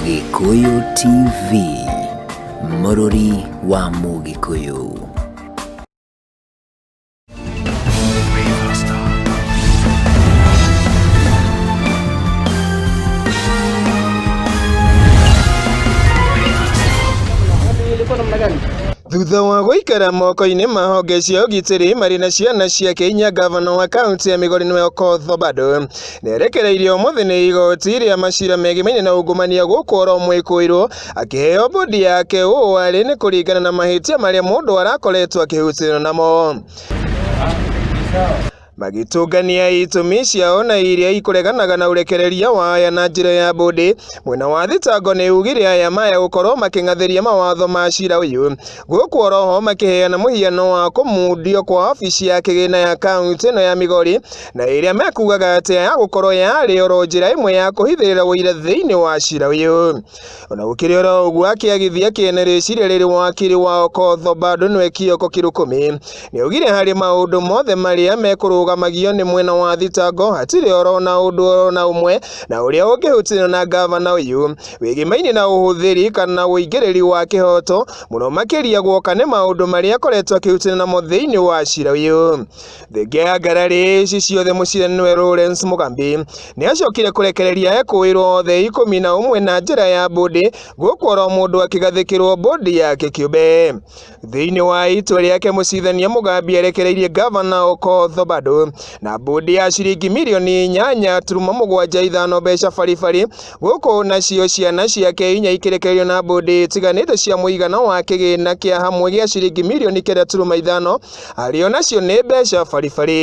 Gĩkũyũ TV, mũrũri wa Mũgĩkũyũ. Thutha wa gũikara moko-inĩ ma honge cia ũgitĩri marĩ na ciana ciake inya, ngavana wa kaũntĩ ya Migori nĩwe Okoth Obado Nĩerekereirio ũmũthĩ nĩ igoti rĩa macira megimaine na ungumania gũkũ oro mwĩkũirũ akĩheo bodi yake ũũ arĩ nĩ kũringana na mahĩtia marĩa mũndũ arakoretwo akĩhutĩrwo namo magĩtũngania itũmi ciao na iria ikũreganaga na ũrekereria wa aya na njĩra ya bũndĩ. Mwena wa thitango nĩ ugire aya maya gũkorwo makĩng'athĩria mawatho ma cira ũyũ gũkũ oroho makĩheana mũhiano wa kũmundio kwa wabici ya kĩgĩna ya kaunti ĩno ya Migori na ĩrĩa mekugaga atĩ ya gũkorwo yarĩ oro njĩra ĩmwe ya kũhithĩrĩra ũira thĩinĩ wa cira ũyũ ona gũkĩrĩ oro ũguo akĩagithia kĩene rĩciria rĩrĩ wakiri wa Okotho bado nĩwe Kioko Kirukumi nĩaugire harĩ maũndũ mothe marĩa mekũrũgamagio nĩ mwena wa thitango hatirĩ oro na ũndũ oro na ũmwe na ũrĩa ũngĩhutio na ngavana ũyũ wĩgĩmainĩ na ũhũthĩri kana ũingĩrĩri wa kĩhoto mũno makĩria guoka nĩ maũndũ marĩa akoretwo akĩhutania namo thĩinĩ wa cira ũyũ. Thenge ya ngararĩ ici ciothe mũciranĩwe Lawrence Mugambi nĩ acokire kũrekereria ekũĩrwo othe ikũmi na ũmwe na njĩra ya mbũndĩ gũkũ oro mũndũ akĩgathĩkĩrwo mbũndĩ yake kĩũmbe. Thĩinĩ wa itua rĩake mũcirithania Mũgambi erekereirie ngavana Okoth Obado na mbũndi ya ciringi mirioni inyanya turuma mũgwanja ithano mbeca baribari gũkũ nacio ciana ciake inya ikĩrekererio na mbũndi itiganĩte cia mũigana wa kĩgĩna kĩa hamwe gĩa ciringi mirioni kenda turuma ithano arĩ o nacio nĩ mbeca baribari.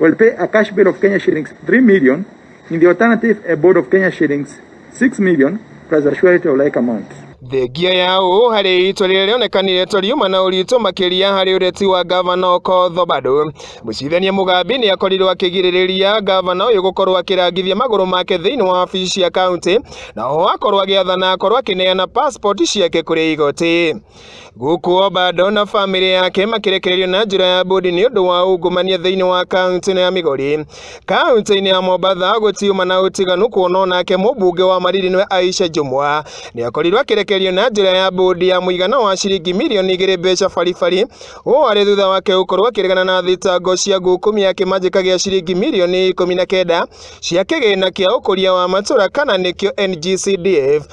Well, pay a cash bill of Kenya shillings 3 million. In the alternative, a board of Kenya shillings 6 million plus a surety of like amount. Thengia ya ũũ harĩ itua rĩrĩa rĩonekanire to riuma na ũritũ makĩria harĩ ũreti wa ngavana Okoth Obado. Mũcirithania Mũgambi nĩ akorirwo akĩgirĩrĩria ngavana ũyũ gũkorwo akĩrangithia magũrũ make thĩinĩ wa wabici cia kaunti na oho akorwo agĩathana akorwo akĩneana passport ciake kũrĩ igoti. Gũkũ Obado na famĩlĩ yake makĩrekererio na njĩra ya mbũndi nĩ ũndũ wa ungumania thĩinĩ wa kaunti ya Migori. Kaunti-inĩ ya Mombatha gũtiuma na ũtiganu kuona onake mũmbunge wa Mariri nĩwe Aisha Jumwa nĩ akorirwo akĩrekererio na njĩra ya mbũndi ya mũigana wa ciringi mirioni igĩrĩ mbeca baribari. Ũũ arĩ thutha wake gũkorwo akĩregana na thitango cia ngukumia kĩmanjĩka gĩa ciringi mirioni ikũmi na kenda cia kĩgĩna kĩa ũkũria wa matũra kana nĩkĩo NGCDF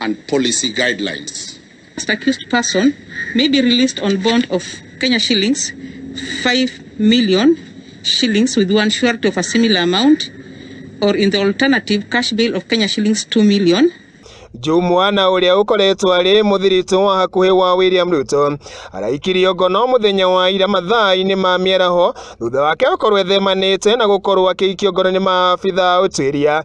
and policy guidelines. First accused person may be released on bond of Kenya shillings 5 million shillings with one surety of a similar amount or in the alternative cash bail of Kenya shillings 2 million Jumwana ũrĩa ũkoretwo arĩ mũthirito wa hakuhĩ wa William Ruto araikirio ngono mũthenya wa ira mathaa-inĩ ma mĩaraho thutha wake gũkorwo ethemanĩte na gũkorwo akĩikio ngono nĩ maabitha ũtuĩria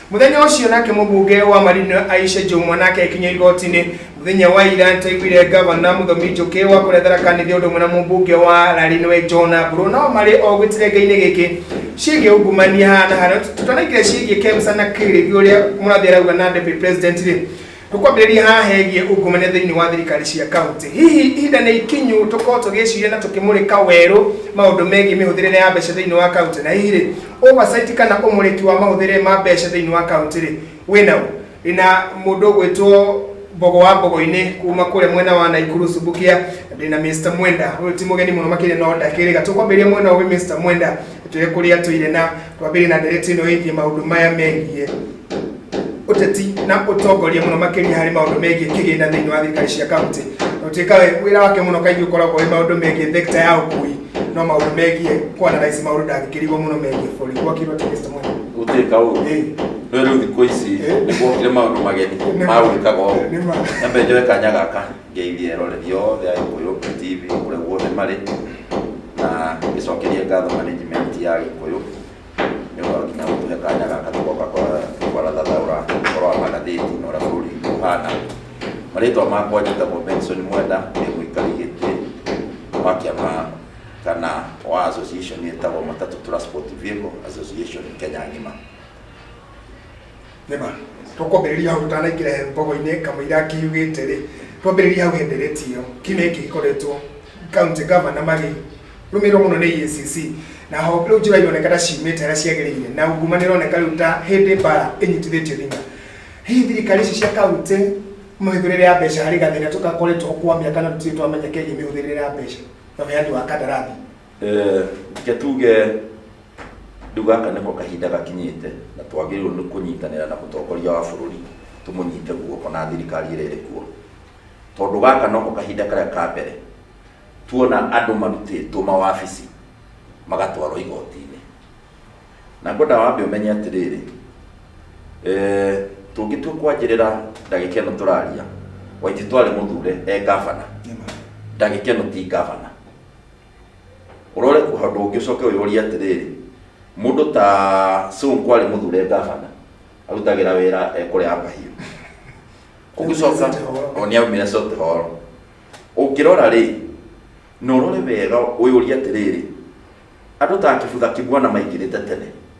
Mũthenya ũcio nake mũbunge wa Marino Aisha Jumwa nake akinya igoti-inĩ mũthenya wa ira ntaiguire gavana Mũthomi Njũkĩ wa kũrĩa Tharaka Nithi ũndũ ũmwe na mũbunge wa Larinwe John Mburu nao marĩ o gĩtirenga-inĩ gĩkĩ ciĩgiĩ ungumania haha na harĩa tũtanaingĩra ciĩgiĩ Kemsa na Kĩrĩthi ũrĩa mũrathiĩ arauga na deputy president rĩ Tũkwambĩrĩria haha hegiĩ ungumania thĩinĩ wa thirikari cia kaunti. Hihi ihinda nĩ ikinyu tũkorwo tũgĩciria na tũkĩmũrĩka werũ maũndũ megiĩ mĩhũthĩrĩre ya mbeca thĩinĩ wa kaunti? Na hihi rĩ, oversight kana ũmũrĩki wa mahũthĩrĩre ma mbeca thĩinĩ wa kaunti rĩ, wĩna ũ? Ndĩna mũndũ ũgwĩtwo Mbogo wa Mbogo-inĩ kuma kũrĩa mwena wa Naikuru Subukia, na ndĩna Mr Mwenda, ũyũ ti mũgeni mũno makĩria no ndakĩrĩga. Tũkwambĩrĩria mwena ũyũ wĩ Mr Mwenda, twĩre kũrĩa tũire na Twambĩrĩrie na ndeereti ĩno ĩgiĩ maũndũ maya megiĩ ũteti na ũtongoria mũno makĩria harĩ maũndũ megiĩ kĩgĩna thĩinĩ wa thirikari cia kaunti. Na ũtuĩka we- wĩra wake mũno kaingĩ ũkoragwo wĩ maũndũ megiĩ thekita ya ũkui no maũndũ megiĩ kwanalaici maũndũ ndangĩkĩrigwo mũno megiĩ bũrũri gwakirwo atĩ Mr. Mwene? gutwika uru Ĩĩ. no riu thiku ici Eh. niguokire maundu mageni Nĩ ma. ma gwikaga uu Nĩ ma. nyambe njoe kanya gaka Ngeithie eroreri othe a Gĩkũyũ TV kũrĩa guothe marĩ na ngĩcokerie ngatho management ya Gĩkũyũ nĩ ũndũ wa nginya gũtuhe kanya gaka tũgoka kwarathathaũra ũhoro wa magathĩti na ũrĩa bũrũri witũ ũhana. Marĩtwa makwa njĩtagwo Benson Mwenda ndĩ mũikari gĩtĩ wa kĩama kana wa association ĩtagwo Matatũ Transport Vehicle Association Kenya ng'ima. nĩma tũkwambĩrĩria hau tanaingĩra mbogo-inĩ kamũira akĩugĩte rĩ twambĩrĩria hau hendereti ĩyo kiumia gĩkĩ gĩkoretwo kaunti gavana magĩ rũmĩrĩrwo mũno nĩ EACC na ho rĩu njĩra ironeka ta ciumĩte harĩa ciagĩrĩire na unguma nĩ ĩroneka rĩu ta hĩndĩ mbara ĩnyitithĩtio thing'a hihi thirikari ici cia kaunti mĩhũthĩrĩre ya mbeca harĩ gathĩna tũkakoretwo kwa mĩaka na tũtirĩ twamenya kegiĩ mĩhũthĩrĩre ya mbeca na ũheani wa kandarathi Eh, reke tuge rĩu gaka nĩko kahinda gakinyĩte na twagĩrĩirwo nĩ kũnyitanĩra na mũtongoria wa bũrũri tũmũnyite guoko na thirikari ĩrĩa ĩrĩ kuo tondũ gaka noko kahinda karĩa ka mbere tuona andũ marutĩtwo mawabici magatwarwo igoti-inĩ na ngwenda wambe ũmenye atĩrĩrĩ eh, tũngĩtua kwanjĩrĩra ndagĩka ĩno tũraria waiti twarĩ mũthure e ngavana ndagĩka ĩno ti ngavana ũrore ũndũ ũngĩ ũcoke ũyũrie atĩrĩrĩ mũndũ ta Sonko arĩ mũthure ngabana arutagĩra wĩra ekũrĩa mahiũ ũgĩcoka o nĩ aumire sote horo ũngĩrora rĩ na ũrore wega ũyũrie atĩrĩrĩ andũ ta kĩbutha kĩmwana maingĩrĩte tene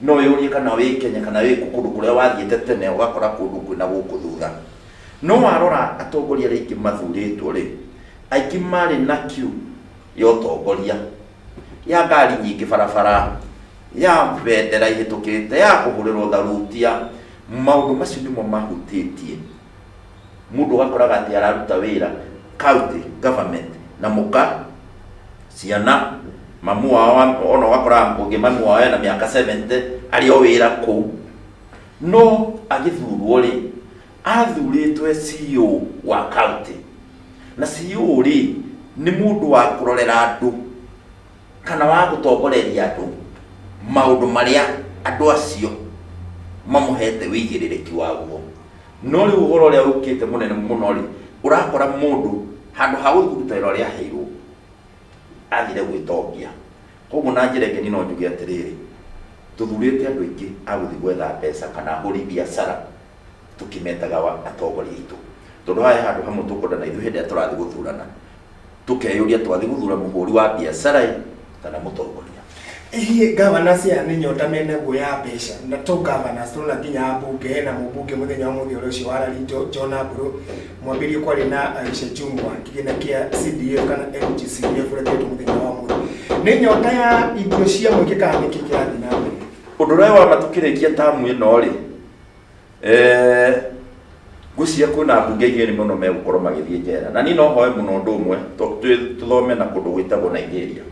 No wĩyũrie kana wĩ Kenya kana wĩ kũ- kũndũ kũrĩa wathiĩte tene ũgakora kũndũ kwĩna gũkũ thutha. No warora atongoria arĩa aingĩ mathurĩtwo-rĩ, aingĩ marĩ na kiu ya ũtongoria, ya ngari nyingĩ barabara, ya bendera ihĩtũkĩte, ya kũhũrĩrwo tharutia. Maũndũ macio nĩmo mahutĩtie. Mũndũ ũgakoraga atĩ araruta wĩra county government na mũka, ciana, mamu wao ona ũgakora ũngĩ mamu wao ena mĩaka 70 arĩ o wĩra kũu. No agĩthurwo rĩ, athurĩtwo e CEO wa county, na CEO rĩ, nĩ mũndũ wa kũrorera andũ. kana wa gũtongoreria andũ maũndũ marĩa andũ acio mamũhete wĩigĩrĩrĩki waguo no rĩu ũhoro ũrĩa ũkĩte mũnene mũno rĩ ũrakora mũndũ handũ ha gũthiĩ kũruta wĩra ũrĩa aheirwo athire gwĩtongia koguo na njĩra ĩngĩ niĩ no njuge atĩrĩrĩ tũthurĩte andũ aingĩ a gũthiĩ gwetha mbeca kana ahũri biacara tũkĩmetaga wa- atongoria aitũ tondũ haya handũ hamwe tũkwendana ithuĩ hĩndĩ ĩrĩa tũrathiĩ gũthurana tũkeyũria twathiĩ gũthura mũhũri wa biacara ĩ kana mũtongoria Hihi governors aya nĩ nyota mena guo ya mbeca na to governors tũrona nginya ambunge hena mũmbunge mũthenya wa mũthĩ ũrĩa ũcio wa rari Jo- John Aburu mwambĩrĩrie kwarĩ na Aisha Jumwa kĩgĩna kĩa CDF kana MGCDF ũrĩa kĩretwo mũthenya wa mũthĩ nĩ nyota ya indo cia mũingĩ kana nĩkĩ kĩrathiĩ na mbere ũndũ ũrĩa wa matũkĩrĩkia tamu ĩno rĩ Eh, ngwĩciria kwĩna ambunge igĩrĩ mũno megũkorwo magĩthiĩ njera na niĩ no hoe mũno ũndũ ũmwe tũ- tũ- tũthome na kũndũ gwĩtagwo nigeria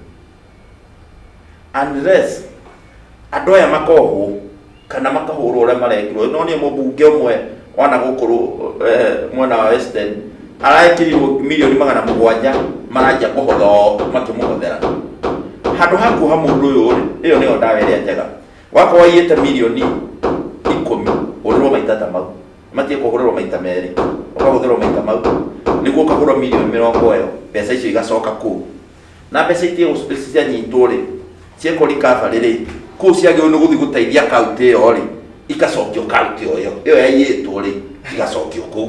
unless andũ aya makohwo kana makahũrwo ũrĩa marekirwo no niĩ mũmbunge ũmwe wana gũkũ rũ- eh, mwena wa western araĩkĩrirwo milioni magana mũgwanja maranjia kũhotha o makĩmũhothera handũ ha kuoha mũndũ ũyũ rĩ ĩyo nĩyo ndawa ĩrĩa njega wakorwo waiyĩte mirioni ikũmi ũrĩrwo maita ta mau matie kũhũrĩrwo maita merĩ ũkahũthĩrwo maita mau nĩguo ũkagũrwo mirioni mĩrongo ĩyo mbeca icio igacoka kũu na mbeca itie cianyitwo rĩ ciekwo recovery rĩ kũu ciagĩrĩirwo nĩ gũthiĩ gũteithia kaunti ĩyo rĩ igacokio kaunti ĩyo ĩyo yaiyĩtwo rĩ igacokio kũu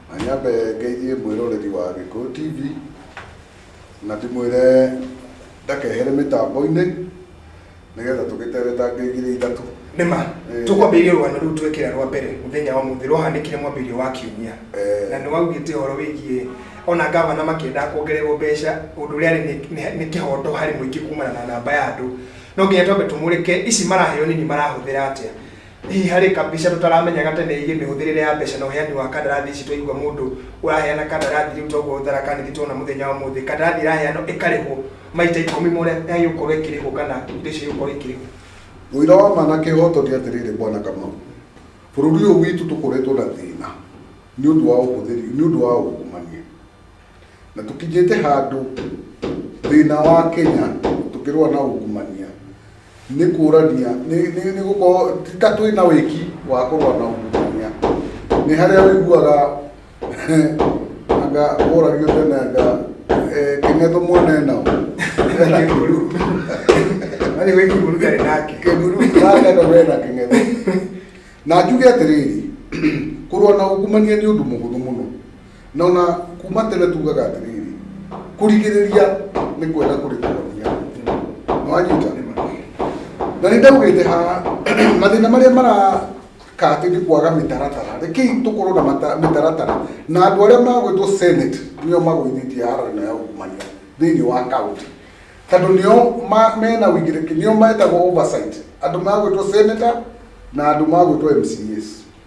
Na nyambe ngeithie mwĩroreri wa Gĩkũyũ TV na ndĩmwĩre ndakehere mĩtambo-inĩ nĩgetha tũgĩtere ta ngĩ igĩrĩ ithatũ. Nĩ ma, Eh. tũkwambĩrĩria rũgano rũu twekĩra rwa mbere mũthenya wa mũthĩ rwahanĩkire mwambĩrĩrio wa kiumia Eh. na nĩ waugĩte ũhoro wĩgiĩ ona ngavana makĩendaga kuongererwo mbeca ũndũ ũrĩa arĩ nĩ- nĩ- nĩ kĩhoto harĩ mũingĩ kumana na namba ya andũ no nginya twambe tũmũrĩke ici maraheo nini marahũthĩra atĩa Hihi harĩ kabica tũtaramenyaga tene ĩgiĩ mĩhũthĩrĩre ya mbeca na ũheani wa kandarathi ici twaigua mũndũ ũraheana kandarathi rĩu toguo ũtharaka nĩthiĩ tuona mũthenya wa ũmũthĩ kandarathi ĩraheanwo ĩkarĩhwo maita ikũmi ma ũrĩa yagĩgũkorwo ĩkĩrĩhwo kana indo icio igũkorwo ikĩrĩhwo. Ũira wa ma na kĩhoto nĩ atĩrĩrĩ Bwana Kamau, bũrũri ũyũ witũ tũkoretwo na thĩna nĩ ũndũ wa ũhũthĩri nĩ ũndũ wa ungumania. na tũkinyĩte handũ thĩna wa kenya tũkĩrũa na ungumania nĩ kũrania nĩ- nĩ nĩ gũkorwo ti ta twĩ na wĩki wa kũrũa na ungumania nĩ harĩa wĩiguaga anga ũragio tene anga eh, kenya tũmwone nao Wani wiki murugari nake. kĩmuru nakenda wena kĩng'etho na njuge atĩrĩrĩ kũrũa na ungumania nĩ ũndũ mũhũthũ mũno Na ona kuma tene tugaga atiriri, kurigiriria ni kwega kuri kuhonia. Nwanyita? Na ni ndaugite ha mathina maria mara kati ni kwaga mitaratara. Rekei tukorwo na mata- mitaratara na andu aria magwitwo Senate nio magwithitie haro ino ya ungumania thiini wa county. Tondu nio ma- mena wigiriki, nio metagwo oversight. Andu magwitwo Senator na andu magwitwo MCAs.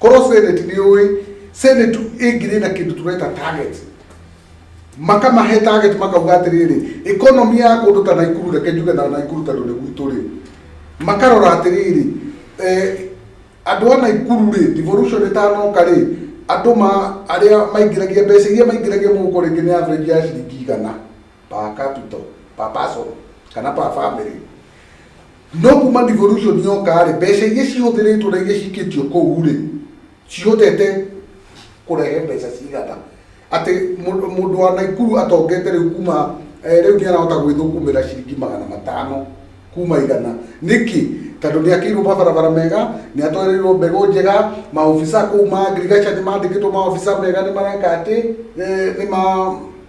korwo senate nĩ ũĩ senate ĩngĩrĩ na kĩndũ tũreta target makamahe target makauga atĩrĩrĩ economy ya kũndũ ta naikuru reke njuge na naikuru tondũ nĩ gwitũ rĩ makarora atĩrĩrĩ eh, andũ a naikuru rĩ devolution ĩtanoka rĩ andũ ma arĩa maingĩragia mbeca iria maingĩragia mũhuko rĩngĩ nĩ average ya ciringi igana per capital per person kana per family No kuma devolution yoka-rĩ, mbeca iria cihũthĩrĩtwo na iria cikĩtio kũu-rĩ, cihotete kũrehe mbeca cigana? Atĩ mũndũ wa Naikuru atongete rĩu kuma, rĩu nĩarahota gwĩthũkũmĩra ciringi magana matano kuma igana. Nĩkĩ? Tondũ nĩakĩirwo mabarabara mega, nĩatwarirwo mbegũ njega, maobica kũu ma ngirigaca nĩmandĩkĩtwo maobica mega nĩmareka atĩ, nĩma.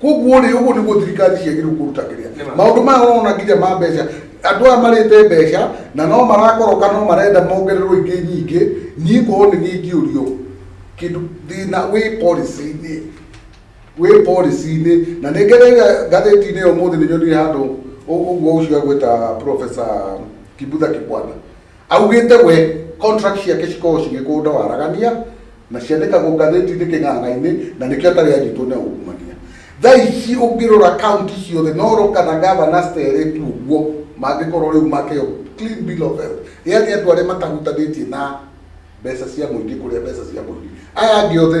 koguo rĩ ũguo nĩguo thirikari ciagĩrĩirwo kũruta kĩrĩa maũndũ maya ũrona nginya ma mbeca andũ aya marĩte mbeca na no marakoroka no marenda mongererwo ingĩ nyingĩ niĩ korwo nĩ niĩ ingĩũrio kĩndũ thĩna wĩ policy-inĩ wĩ policy-inĩ na nĩ ngereire ngathĩti-inĩ ĩyo ũmũthĩ nĩ nyonire handũ ũ- ũguo ũcio agwĩta professor kibutha kibwana Augĩte we contract ciake cikoragwo cigĩkũnda waragania na ciandĩkagwo ngathĩti-inĩ kĩng'ang'a-inĩ na nĩkĩo atarĩ anyitwo nĩ aungumania. Thaa ici ũngĩrora kaunti ciothe no roka na gavana Stere tu ũguo mangĩkorwo rĩu makeo clean bill of health. Yaani andũ arĩa matahutanĩtie na mbeca cia mũingĩ kũrĩa mbeca cia mũingĩ. Aya angĩ othe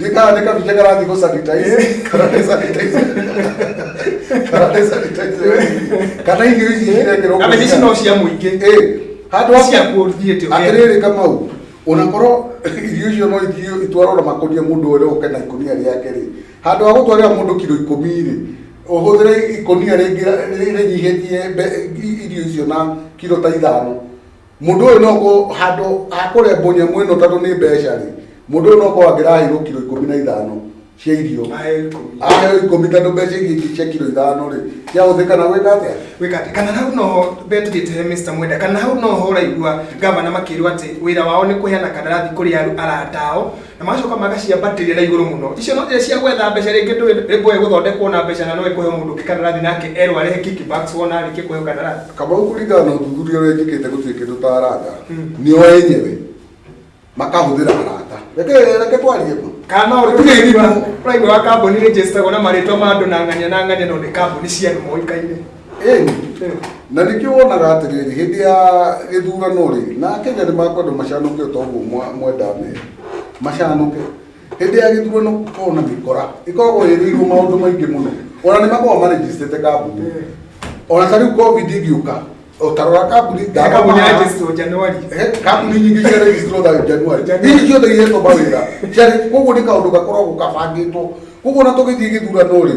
Ndika ndika vicheka rangi ko sanitize. Kana ne sanitize. Kana ne sanitize. Kana ingi ici cirekero. Kana ici no cia muingi. Eh. Handu wa cia kũthiĩte. Atiriri kama u. Unakorwo irio icio no irio itwarwo na makonia mundu ore oke na ikonia riake ri. Handu wa gutwarira mundu kilo 10 ri. Uhuthire ikonia ringi rinyihitie irio icio na kilo ta ithano. Mũndũ ũyũ no ko handũ hakũrembwo nyamũ ĩno tondũ nĩ mbeca rĩ, mũndũ ũyũ no ko angĩraheirwo kiro ikũmi na ithano cia irio aheo ikũmi tondũ mbeca iria ingĩ cia kiro ithano rĩ ciahũthĩka na gwĩka atĩa? gwĩka atĩ kana hau no betugĩte he Mr Mwenda kana hau no ho ũraigua gavana makĩrwo atĩ wĩra wao nĩ kũheana kandarathi kũrĩ arata ao na magacoka magaciambatĩria na igũrũ mũno icio no njĩra cia gwetha mbeca rĩngĩ ndũĩ rĩngĩ ũĩ gũthondekwo na mbeca na no ĩkũhe mũndũ ũngĩ kandarathi nake erwo arehe kickbacks wona arĩkie kũheo kandarathi kamau kũringana na ũthuthuria ũrĩa njĩkĩte gũtirĩ kĩndũ ta arata nĩo enyewe makahũthĩra arata reke reke twarie ma kana no Gũtirĩ ũrĩmi ithimo. ũraigua wa kambuni nĩ njĩstagwo na marĩtwa ma andũ na ng'ania na ng'ania no nĩ kambuni cia andũ moĩkaine Ĩĩ, na nĩkĩo wonaga atĩrĩrĩ hĩndĩ ya gĩthurano rĩ na akenya nĩ makwenda macanũke o ta ũguo mwa- mwendaa mera macanũke hĩndĩ ya gĩthurano gũkoragwo na mĩkora ĩkoragwo ĩrĩirwo maũndũ maingĩ mũno ona nĩ makoragwo marejistĩte kambuni ona ta rĩu covid ĩgĩũka o ta rora kambuni Kambuni ya Jesu Januari. Eh, kambuni nyingĩ cia registro tha januari Januari. hihi ciothe ihetwo mawĩra ciarĩ koguo nĩ kaũndũ gakoragwo gabangĩtwo koguo ona tũgĩthiĩ gĩthurano rĩ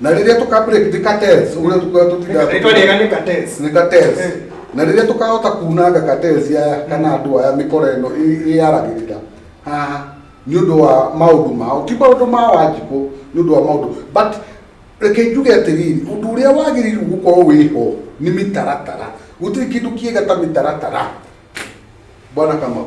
na rĩrĩa tũka break the cartels ũrĩa tũkoragwo tũtiga Rĩtwa rĩega nĩ cartels. nĩ cartels Eh. na rĩrĩa tũkahota kunanga cartels aya kana andũ aya mĩkora ĩno ĩ- ĩyaragĩrĩra haha nĩ ũndũ wa maũndũ mao ti maũndũ ma wanjikũ nĩ ũndũ wa maũndũ but reke njuge atĩrĩrĩ ũndũ ũrĩa wagĩrĩirwo gũkorwo wĩho nĩ mĩtaratara gũtirĩ kĩndũ kĩega ta mĩtaratara bwana kamau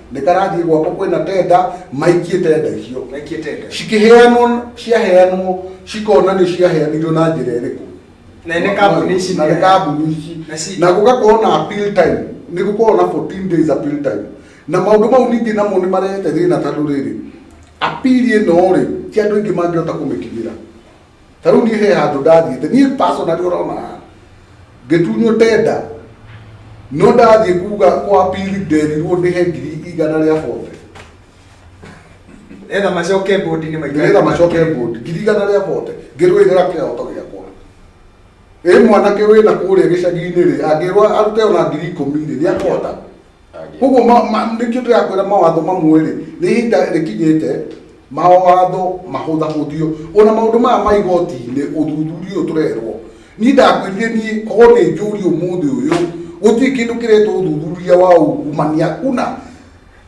nĩkarathiĩ gwako kwĩna tenda maikie tenda icio maikie tenda cikĩheanwo ciaheanwo cikona nĩ ciaheanirwo na njĩra ĩrĩkũ na nĩ kambuni ici na nĩ kambuni ici Na ci- na gũgakorwo na appeal time nĩ gũkorwo na 14 days appeal time na maũndũ mau ningĩ namo nĩ marehete thĩna tondũ rĩrĩ appeal ĩno rĩ ti andũ aingĩ mangĩhota kũmĩkinyĩra ta rä u niä he handå ndathiä te niä personally å rona haha ngä tunywo tenda no ndathiä kuga kwa pili nderirwo ndä he ngiri igana rä a bote etha macoke bũndi-inĩ maitũ nĩgetha macoke mbũndi ngiri igana rĩa bote ngĩrũĩrĩra kĩhoto gĩakwa ĩ mwanake wĩna kũrĩa gĩcagi-inĩ rĩ angĩrwo arute ona ngiri ikũmi rĩ nĩakũhota koguo nĩkĩo ndĩrakwĩra mawatho mamwe rĩ nĩ ihinda rĩkinyĩte mawatho mahũthahũthio ona maũndũ maya ma igoti-inĩ ũthuthuria ũyũ tũrerwo niĩ ndakwĩrire niĩ korwo nĩ njũri ũmũthĩ ũyũ gũtirĩ kĩndũ kĩretwo ũthuthuria wa ungumania kuna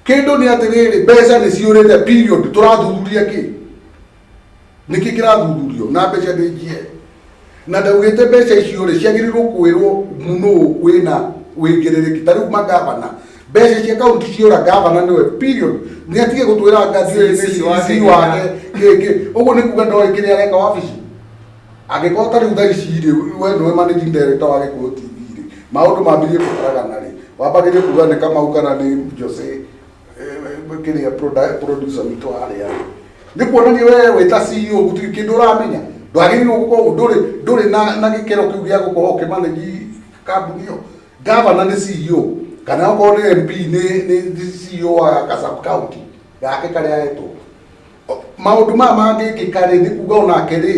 kĩndũ nĩ atĩrĩrĩ mbeca nĩ ciũrĩte period tũrathuthuria kĩ nĩkĩ kĩrathuthurio na mbeca nĩ njie na ndaugĩte mbeca icio rĩ ciagĩrĩirwo kwĩrwo mũnũ wĩna wĩigĩrĩrĩki ta rĩu magavana mbeca cia kaunti ciora gavana nĩwe period nĩ atige gũtwĩra ngathi ũyũ nĩ CC wake kĩngĩ ũguo nĩ kuga ndoĩ kĩrĩa areka wabici angĩkorwo ta rĩu thaa ici rĩ we nĩwe managing director wa gĩkũyũ tv rĩ maũndũ mambirie kũgaragana rĩ wambagĩrĩrie kuga nĩ kamau kana nĩ jose kĩrĩa producer witũ harĩa nĩ kuonania wewe wĩ ta CEO gũtirĩ kĩndũ ũramenya ndwagĩrĩirwo gũkorwo ndũrĩ ndũrĩ na na gĩkĩro kĩu gĩa gũkorwo ũkĩmanagi kambuni ĩyo gavana nĩ CEO kana okorwo nĩ MP nĩ nĩ nĩ CEO wa ka sub county gake karĩa etwo maũndũ maya mangĩkĩka rĩ nĩ kuga onake rĩ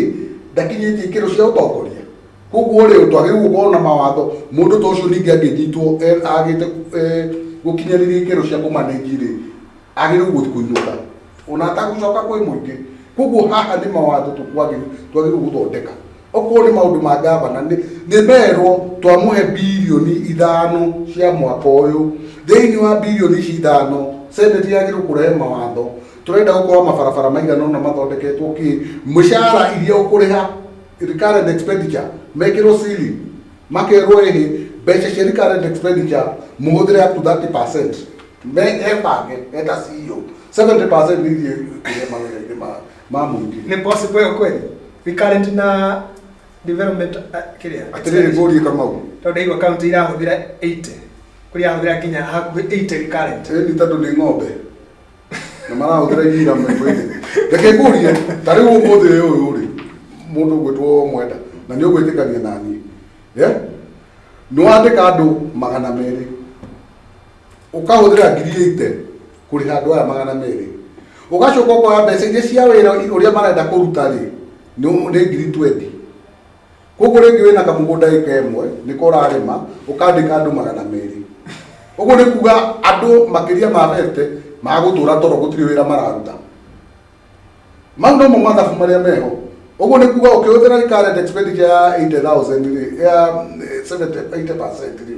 ndakinyĩtie ikĩro cia ũtongoria koguo rĩ twagĩrĩirwo gũkorwo na mawatho mũndũ ta ũcio ningĩ angĩnyitwo e- agĩte e- gũkinyanĩria ikĩro cia kũmanĩji rĩ agĩrĩirwo gũthi kũinũka ona atagũcoka kwĩ mũingĩ koguo haha nĩ mawatho tũkwagĩrĩirwo twagĩrĩirwo gũthondeka okorwo nĩ maũndũ ma ngavana nĩ nĩ merwo twamũhe bilioni ithano cia mwaka ũyũ thĩinĩ wa bilioni ici ithano seneti yagĩrĩirwo kũrehe mawatho tũrenda gũkorwo mabarabara maigana ũna mathondeketwo kĩ mĩcara iria ũkũrĩha recurrent expenditure mekĩrwo ceiling makerwo ĩhĩ mbeca cia recurrent expenditure mũhũthĩre up to 30 percent me ebange eta CEO 70 percent nĩ ithiĩ kũrĩha mawĩra-inĩ ma ma mũingĩ Ni possible yo kweli? We current na development uh, kiria. atĩrĩrĩ ngũrie kamau Tondu igwa county irahuthira 80. Kuri irahuthira nginya hakuhi 80 we current. ĩni tondũ nĩ ng'ombe na marahũthĩra iria ira mĩkwĩthĩ reke ngũrie ta rĩu ũmũthĩ ũyũ ũyũ rĩ mũndũ ũgwĩtwo mwenda na nĩ ũgwĩtĩkania na niĩ Eh? nĩ wandĩka andũ magana merĩ ũkahũthĩra ngiri ĩite kũrĩha andũ aya magana merĩ ũgacoka ũkoya mbeca iria cia wĩra ũrĩa marenda kũruta rĩ nĩ nĩ ngiri twendi koguo rĩngĩ wĩna kamũgũnda ĩka ĩmwe nĩko ũrarĩma ũkandĩka andũ magana merĩ ũguo nĩ kuga andũ makĩria ma bete magũtũra toro gũtirĩ wĩra mararuta mau nomo mathabu marĩa meho ũguo nĩ kuga ũkĩhũthĩra current expenditure ya 80000 rĩ ya 70 80% rĩ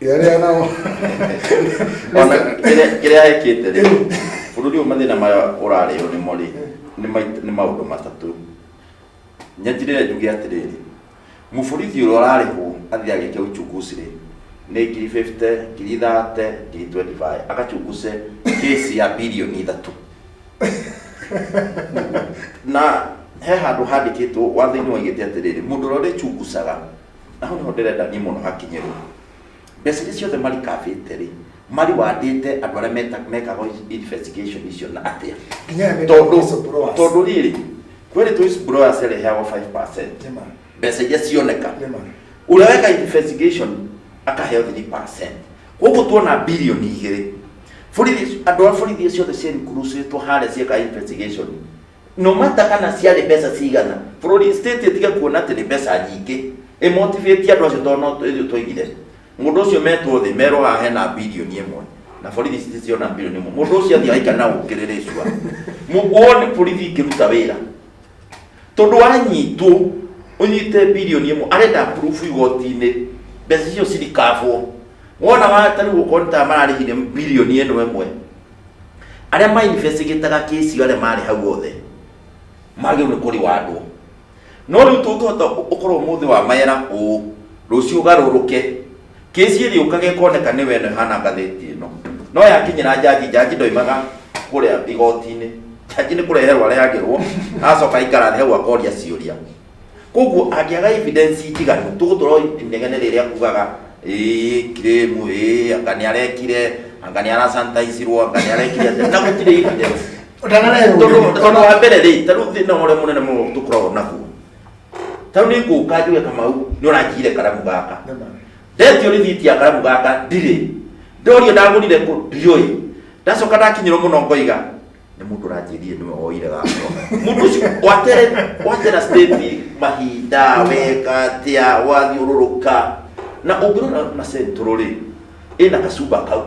Yarĩa nao. ona kĩrĩa kĩrĩa ekĩte rĩ bũrũri ũyũ mathĩna maya ũrarĩo nĩmo rĩ nĩ mai- nĩ maũndũ matatũ nyanjirĩre njuge atĩrĩrĩ mũborithi ũrĩa ũrarĩhwo athiĩ agĩke uchunguzi rĩ nĩ ngiri 50 ngiri 30 ngiri 25 agachunguze kĩsi ya birioni ithatũ na he handũ handĩkĩtwo watho-inĩ waigĩte atĩrĩrĩ mũndũ ũrĩa ũrĩchunguzaga na hau nĩho ndĩrenda niĩ mũno hakinyĩrwo mbeca iria ciothe marikabĩte rĩ mariwandĩte andũ arĩa meta- mekaga investigation icio na atĩa Nginya aya metaga tondũ whistleblowers. tondũ rĩrĩ kwĩrĩ tu whistleblower cireheagwo 5% Nĩ ma. mbeca iria cioneka Nĩ ma. ũrĩa weka investigation akaheo 3% koguo tuona bilioni igĩrĩ borithi andũ a borithi ciothe cienkurusĩtwo harĩa cieka investigation no matter kana ciarĩ mbeca cigana bũrũri state ĩtige kuona atĩ nĩ mbeca nyingĩ ĩmotivate andũ acio tondũ no ithuĩ twaigire mũndũ ũcio metwo thĩ merwo haha hena bilioni ĩmwe na borithi citiziona bilioni ĩmwe mũndũ ũcio athiĩ aika na ũkĩrĩrĩ cua wone borithi ikĩruta wĩra tondũ wanyitwo ũnyite bilioni ĩmwe arenda proof igoti-inĩ mbeca icio cirikabwo wona watarĩ gũkorwo nĩ ta mararĩhire bilioni ĩno ĩmwe arĩa ma investigataga case iyo arĩa marĩ hau othe magĩrĩirwo nĩ kũrĩwandwo no rĩu tũngĩhota ũkorwo mũthĩ wa mera ũũ rũciũ ũgarũrũke kĩci ĩrĩa ũkage koneka nĩ wene hana ngathĩti ĩno no yakinyĩra njanji njanji ndoimaga kũrĩa igoti-inĩ njanji nĩ kũreherwo areherwo acoka aikara thĩ hau akoria ciũria koguo angĩaga evidence njiganu tũgũtũra inegene rĩrĩa kugaga ĩĩ kiremu ĩĩ anga nĩ arekire anga nĩ arasantaicirwo anga nĩ arekire atĩa." na gũtirĩ evidence Ũtanarehwo. tondũ tondũ wa mbere rĩ tarĩu thĩna ũrĩa mũnene mũno tũkoragwo naguo tarĩu nĩ ngũka njuge kamau nĩ ũranjire karamu gaka ndetio rĩthiti ya karamu gaka ndirĩ ndorio ndagũrire kũ ndiũĩ ndacoka ndakinyĩrwo mũno ngoiga nĩ mũndũ ũranjĩrire nĩwe woire gakwa mũndũ ũcio watera watera state mahinda weka atĩa wathiũrũrũka na ũngĩrora na central rĩ ĩna kacumba kau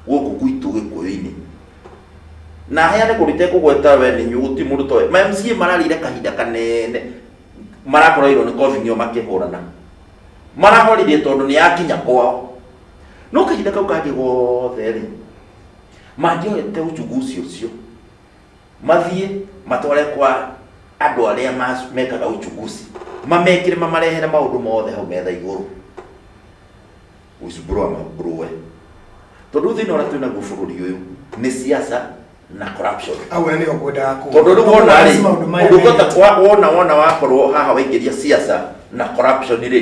gũkũ gwitũ gĩkũyũ-inĩ na heane kũndũ itekũgweta we nĩ inyuĩ gũtirĩ mũndũ toĩ ma MCA mararĩire kahinda kanene marakorairwo nĩ kobi nĩo makĩhũrana marahorire tondũ nĩ yakinya kwao no kahinda kau kangĩ gothe rĩ mangĩoete ũnjugu ũcio ũcio mathiĩ matware kwa andũ arĩa mas- mekaga uchunguzi mamekĩre mamarehere maũndũ mothe hau metha igũrũ whistleblower amambũrũe tondũ thĩna ũrĩa twĩ naguo bũrũri ũyũ nĩ siasa na corruption au nä å kwendaga kå tondå rä wona rä å ndå ngota wona wona wakorwo haha waingä ria siasa na corruption rä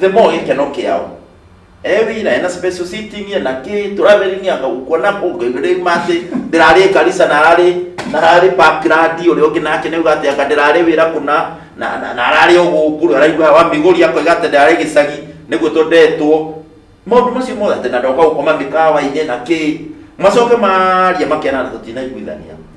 the more gikeno kiao ewi na ena special sitting ye na ki traveling ya ukona ko ngere mate ndirari kanisa na rari na rari background uri oki nake ne ugate aka ndirari wira kuna na na na rari ogukuru araigwa wa migori yako igate ndirari gicagi niguo tondetwo maundu macio mothe ati na ndoka gukoma mikawa-inĩ na ki macoke maria makena na tutinaiguithania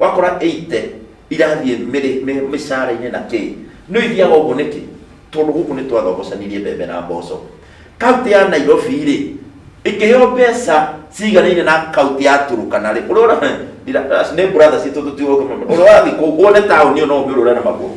Wakora eite irathiĩ mĩrĩ mĩ- mĩcara-inĩ na kĩ nĩ ithiaga ũguo nĩkĩ tondũ gũkũ nĩ twathogocanirie mbembe na mboco kaunti ya nairobi rĩ ĩkĩheo mbeca ciganaine na kaunti ya turukana rĩ ũrĩa ũra- ndira- nĩ brother citũ tũtiũĩ ũrĩa ũrathiĩ kũu wone taũni ĩyo no ũmĩũrũre na magũrũ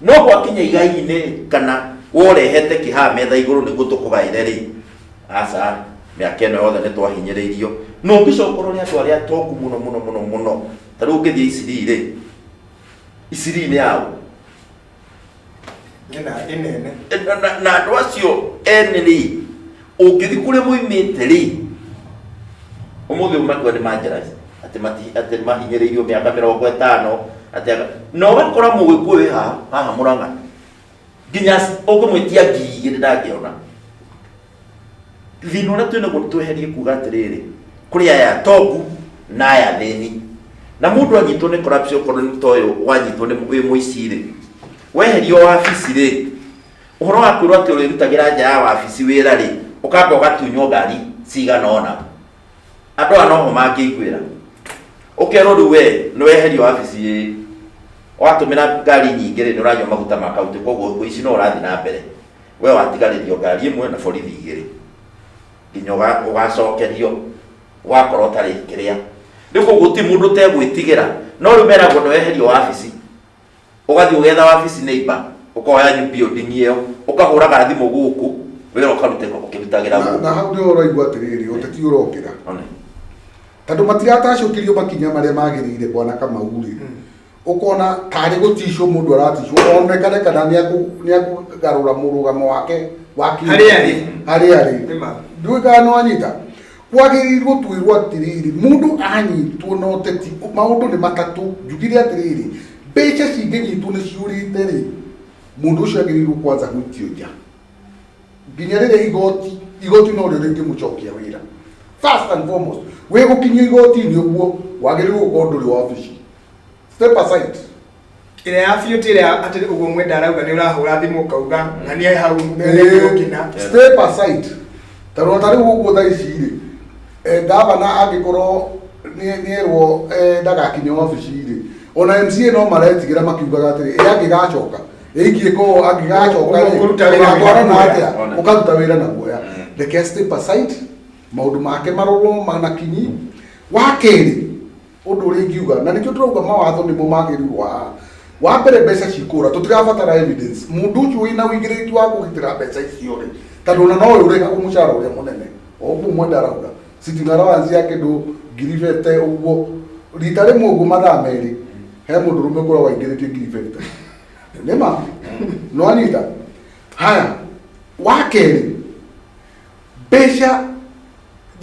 No gwakinya igai-inĩ kana worehete kĩhaa metha igũrũ nĩguo tũkũgaĩre rĩ, aca, mĩaka ĩno yothe nĩ twahinyĩrĩirio. Na ũngĩcoka ũrore andũ arĩa atongu mũno mũno mũno mũno, ta rĩu ũngĩthiĩ Isiri rĩ, Isiri nĩ yaũ? Ĩna ĩnene. Na- na andũ acio ene rĩ ũngĩthi kũrĩa moimĩte rĩ ũmũthĩ ũmatua nĩ manjarathi atĩ mati- atĩ mahinyĩrĩirio mĩaka mĩrongo ĩtano atĩ aka- na ũgakora mũgĩkũyũ wĩ haha haha mũrang'a nginya ũngĩmwĩtia ngiri igĩrĩ ndangĩona thina ũrĩa twĩna guo tweherie kuga atĩrĩrĩ kũrĩ aya atongu na aya athĩni na mũndũ anyitwo nĩ corruption korwo nĩ toyũ wanyitwo nĩ wĩ mũici rĩ weherio wabici rĩ ũhoro wa kwĩrwo atĩ ũrĩrutagĩra nja ya wabici wĩra rĩ ũkamba ũgatunywo ngari cigana ona andũ aya noho mangĩiguĩra ũkerwo rĩu we nĩ weherio wabici ĩĩ watũmĩra ngari nyingĩ rĩ nĩ ũranyua maguta ma kaunti koguo ũici no ũrathiĩ na mbere we watigarĩrio ngari ĩmwe na borithi igĩrĩ nginya ũga- ũgacokerio wakorwo ũtarĩ kĩrĩa rĩu koguo ti mũndũ ũtegwĩtigĩra no rĩu meragwo nĩ weherio wabici ũgathiĩ ũgetha wabici neighbor ũkoya new building ĩyo ũkahũraga thimũ gũkũ wĩra ũkarutĩka ũkĩrutagĩra Na- gũkũ na hau nĩ ũraigua atĩrĩrĩ ũteti ũrokĩra One. tondũ matiratacũkirio makinya marĩa magĩrĩire bwana kamau rĩ ũkona tarĩ gũticwo mũndũ araticwo onekane kana nĩ akũ- nĩ akũgarũra mũrũgamo wake wa kĩũteti. Harĩa arĩ. harĩa arĩ Nĩ ma. ndũĩkaga nĩwanyita kwagĩrĩirwo twĩrwo atĩrĩrĩ mũndũ anyitwo na ũteti maũndũ nĩ matatũ njugire atĩrĩrĩ mbeca cingĩnyitwo nĩ ciũrĩte rĩ mũndũ ũcio agĩrĩirwo kwanza gũikio nja nginya rĩrĩa igoti igoti no rĩo rĩngĩmũcokia wĩra first and foremost wĩ gũkinyio igoti-inĩ ũguo wagĩrĩirwo gũkorwo ndũrĩ wabici step aside ĩrĩa ya biũ ti ĩrĩa atĩ ũguo mwenda arauga nĩ ũrahũra thimũ ũkauga na nĩ hau mbere gĩgũkina step aside tondũ ta rĩu ũguo tha ici rĩ eh, ngavana angĩkorwo nĩ- nĩerwo eh, ndagakinye wabici rĩ ona mca no maretigĩra makiugaga atĩrĩ ĩ angĩgacoka ĩikie ko angĩgacoka rĩ, Ũkũruta wĩra na ũgatwarana guoya. atĩa Ona. ũkaruta wĩra na guoya reke step aside maũndũ make marorwo manakinyi wa kerĩ ũndũ ũrĩa ingiuga na nĩkĩo tũrauga mawatho nĩmo magĩrĩirwo haha wa mbere mbeca cikũra tũtirabatara evidence mũndũ ũcio wĩna ũigĩrĩrĩki wa kũgitĩra mbeca icio rĩ tondũ ona no ũrĩhagwo mũcara ũrĩa mũnene o ũguo mwenda arauga sitting allowance ya kĩndũ ngiri bete ũguo rita rĩmwe ũguo mathaa merĩ he mũndũ rũme ũkorwo waingĩrĩtie ngiri bete nĩma no anyita haya wa kerĩ mbeca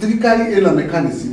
thirikari ĩna mechanism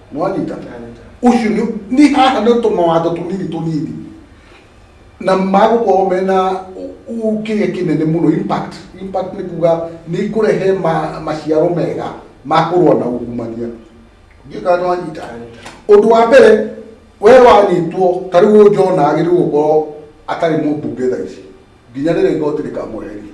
nĩ wanyita ũcio nĩ nĩ haha nĩ tũmawatho tũnini tũnini na magũkorwo mena ũ- ũ- kĩrĩa kĩnene mũno impact impact nĩ kuga nĩ ikũrehe ma- maciaro mega ma kũrũa na ungumania ngĩka nĩ wanyita ũndũ wa mbere we wanyitwo ta rĩu ũyũ John agĩrĩirwo gũkorwo atarĩ mũmbunge thaa ici nginya rĩrĩa igoti rĩkamweheria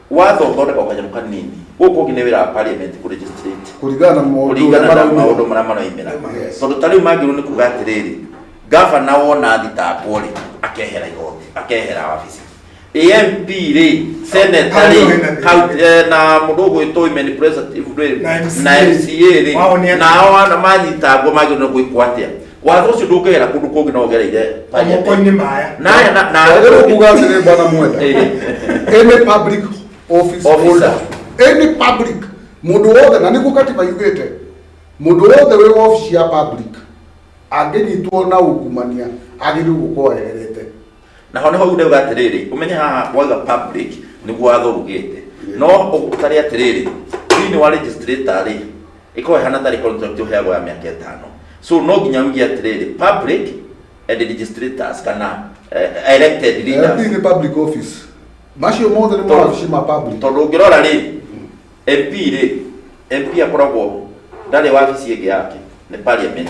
watho ũthondeka kanyamũ kanini gũkũ ũngĩ nĩ wĩra wa parliament kũ legislate kũringana na maũndũ kũringana na maraumĩra. maũndũ marĩa maraimĩra Yes. tondũ ta rĩu mangĩrwo nĩ kuga atĩrĩrĩ gavana wona thitangwo rĩ akehera igoti akehera wabici amp rĩ seneta Hau ndio rĩ hena thĩna. county- eh, na mũndũ ũgwĩtwo women representative rĩ Na MCA. na mca rĩ Wao nĩ atĩa? nao ana manyitangwo magĩrwo nĩ gwĩkwo atĩa watho ũcio ndũngĩgera kũndũ kũngĩ no ũgereire pariatĩ. moko-inĩ maya Naya na- na- Rĩu kuga atĩrĩ bwana mwenda any public office Officer. holder any public mũndũ wothe na nĩguo katiba yugĩte mũndũ wothe wĩ wabici ya public angĩnyitwo na ungumania agĩrĩirwo gũkorwo eherete naho nĩho rĩu ndauga atĩrĩrĩ ũmenye haha wauga public nĩguo watho ugĩte no ũtarĩ atĩrĩrĩ thĩinĩ wa registrar rĩ Ĩkoragwo ĩhana tarĩ contract ũheagwo ya mĩaka ĩtano. So no nginya uge atĩrĩrĩ, public and registrators kana eh, elected LP leaders. nĩ public office macio mothe nĩ Tondũ- mawabici ma public Tondũ ũngĩrora rĩ, MP rĩ, MP akoragwo ndarĩ wabici ĩngĩ yake, nĩ parliament.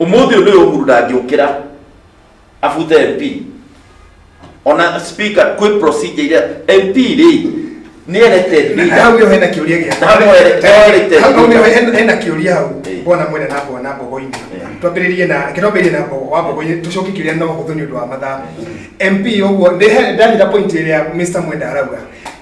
Umuthi undu uyu uhuru ndangĩũkĩra abute mp ona speaker kwĩ procedure iria mp rĩ nĩ elected leader. hau yo hena kiuria gia Na hau ere- erĩte hau hau yo hena- hena kiuria hau Eh. bona mwena na mbogo na mbogo-inĩ Eh. twambĩrĩrie na kĩtwambĩrĩrie na mbogo wa mbogo tũcokie kiuria no hũthũ nĩ ũndũ wa mathaa mp ũguo ndanyita point ĩrĩa mr mwenda arauga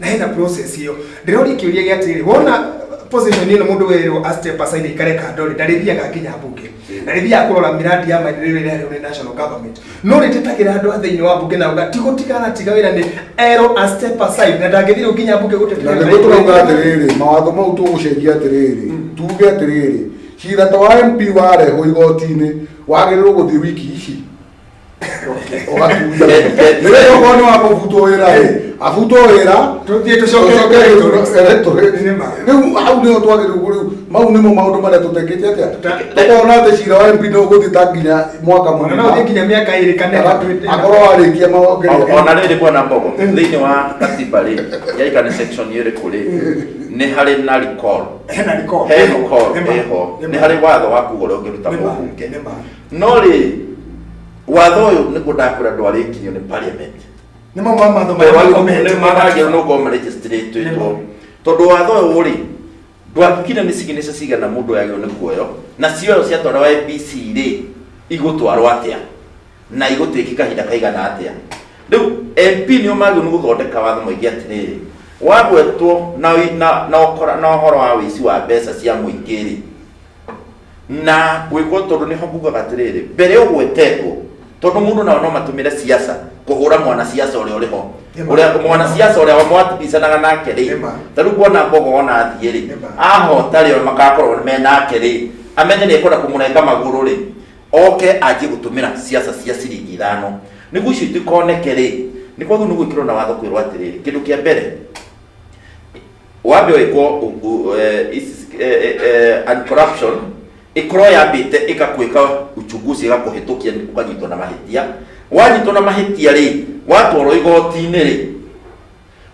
na hena process ĩyo ndĩroria kĩũria gĩa atĩrĩrĩ wona position ĩno mũndũ werwo a step aside ikare kando rĩ ndarĩthiaga nginya mbunge ndarĩthiaga kũrora miradi ya maendeleo ĩrĩa ĩrehwo nĩ national government no rĩtetagĩra andũ a thĩinĩ wa mbunge na uga ti gũtiga aratiga wĩra nĩ erwo a step aside na ndangĩthirwo nginya mbunge na gũtetera nĩguo tũrauga atĩrĩrĩ mawatho mau tũgũcenjia atĩrĩrĩ tuge atĩrĩrĩ cira ta wa mp warehwo igoti-inĩ wagĩrĩirwo gũthiĩ wiki ici rĩrĩokorwo nĩ wa kũbutũĩra rĩ abutũĩra tũthiĩ tũcoke rĩu hau nĩho twagĩrĩirwo rĩu mau nĩmo maũndũ marĩa tũtekĩte atĩa tũkona atĩ cira wa mp no ũgũthiĩ ta nginya mwaka mũna no ũthiĩ nginya mĩaka ĩrĩ kana ĩtatũ. akorwo warĩkia O- maongerera ona rä rä kwena mbogo thä inä wa katiba rä yaika nä section ä rä kå rä nä harä na recall. Hena recall. He recall Nĩ ma. ĩho Nĩ nä ma. harä watho wa kuga å rä a å ngä ruta Nĩ ma. må bunge Nĩ ma. no rĩ watho ũyũ nĩguo ndakwĩra ndwarĩkirio nĩ parliament nĩ mamwe ma matho marĩa makomete. nĩ maragĩrwo nĩ gũkorwo marĩgĩcitĩrĩtwo tondũ watho ũyũ rĩ ndwakire nĩ signature cigana mũndũ yagĩrwo nĩ kuoyo na cioyo ciatwarwo IBC rĩ igũtwarwo atĩa na igũtuĩkĩ kahinda kaigana atĩa rĩu MP nĩo magĩrwo nĩ gũthondeka watho maingĩ atĩrĩrĩ wagwetwo na, na, na, ũkora- na ũhoro wa wĩici wa mbeca cia mũingĩ rĩ na gwĩkwo tondũ nĩho ngugaga atĩrĩrĩ mbere ũgwetetwo tondũ mũndũ nao no matũmĩre siasa kũhũra mwana siasa ũrĩa ũrĩ ho Nĩma. ũrĩa mwana siasa ũrĩa mwatibicanaga nake rĩ Nĩma. ta rĩu kuona mbogo ona athiĩ rĩ Nĩma. ahota rĩ ona magakorwo me nake rĩ amenye nĩ ekwenda kũmũrenga magũrũ rĩ oke anjie gũtũmĩra siasa cia ciringi ithano nĩguo icio itikoneke rĩ nĩ koguo nĩ gwĩkĩrwo na watho kwĩrwo atĩrĩrĩ kĩndũ kĩa mbere wambe waikwo and corruption ikorwo yambite ikakwika uchunguzi igakuhitukia ukanyitwo na mahitia wanyitwo na mahitia ri watwarwo igoti-inĩ ri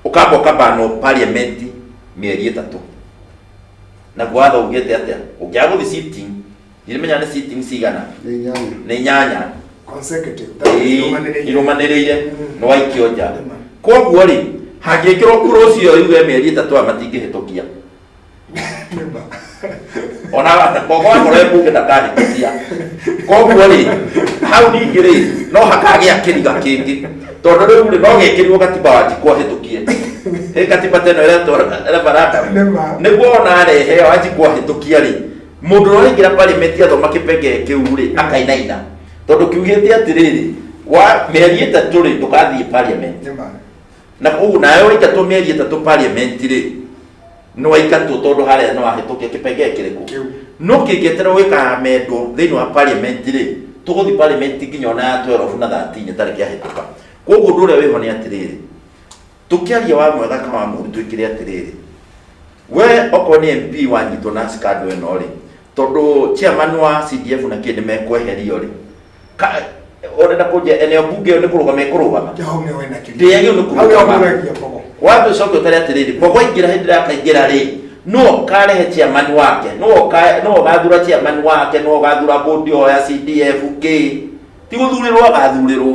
ukamba ukabanwo parliament mieri itatu naguo watho ugite atia ungiaga guthi sitting irimenya nĩ sitting cigana Nĩ inyanya. nĩ inyanya Consecutive. Ĩĩ, Irũmanĩrĩire. irũmanĩrĩire Mm. nĩ waikio nja Nĩma. koguo rĩ hangĩkĩrwo kura ũcio yuge mĩeri ĩtatũ aya matingĩhĩtũkia Nĩma. ona kogokorwo mbunge ndakahĩtũkia koguo rĩ hau ningĩ rĩ no hakagĩa kĩriga kĩngĩ tondũ rĩu rĩ no gĩkĩrirwo katiba wa njikwa hĩtũkie ĩ katiba teno ĩretwo referendum Nĩma. nĩguo ona arehe wanjikwa hĩtũkia rĩ Mũndũ ũrĩa ũraingĩra parliament athoma kĩpengee kĩu-rĩ, akainaina. Tondũ kiugĩte atĩrĩrĩ, wa mĩeri ĩtatũ-rĩ, ndũgathiĩ parliament. Nĩ ma. Na koguo nawe waitatwo mĩeri ĩtatũ parliament-rĩ, nĩwaitatwo tondũ harĩa nĩwahĩtũkia kĩpengee kĩrĩkũ? Kĩu. No kĩngĩeterera gĩkaamendwo thĩinĩ wa parliament-rĩ, tũgũthiĩ parliament nginya o na ya 12 na 13 ĩtarĩ kĩahĩtũka. Koguo ũndũ ũrĩa wĩho nĩ atĩrĩrĩ, tũkĩaria wa mwega kana wa mũũru twĩkĩre atĩrĩrĩ we okorwo nĩ mp wanyitwo na scandal ĩno rĩ tondũ chairman wa cdf na kĩndĩ mekweherio rĩ ka- ũrenda kũnjia eneo bunge ĩyo nĩ kũrũgama ĩkũrũgama Kĩhau nĩ wena kĩrĩa. ndĩyagĩ nĩ Hau kũrũgama yamũragia kogo. wambe ũcoke ũtare atĩrĩrĩ kogo aingĩra hĩndĩ ĩrĩa akaingĩra rĩ no ũkarehe chairman wake no ũka- no ũgathura chairman wake no ũgathura bũndi ĩyo ya cdf kĩ ti gũthurĩrwo agathurĩrwo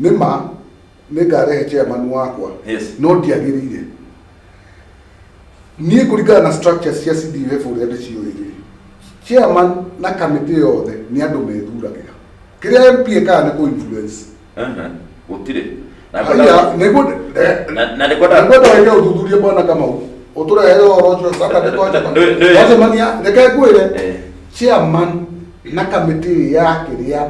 nĩ ma nĩ ngarehe chairman wakwa Yes. no ndiagĩrĩire niĩ kũringana na structure cia CDF ũrĩa ndĩciũĩ rĩ chairman na kamĩtĩ yothe nĩ andũ methuragĩra kĩrĩa MP ekaga nĩ kũ influence Aha, gũtirĩ Na haya ngwenda- nĩguo Na- na nĩkwenda- nĩkwenda wĩke ũthuthuria bwana kamau ũtũrehere ũhoro ũcio Saturday twacemania- Nĩ- nĩ- twacemania reke ngwĩre Eh. chairman na kamĩtĩ yake rĩa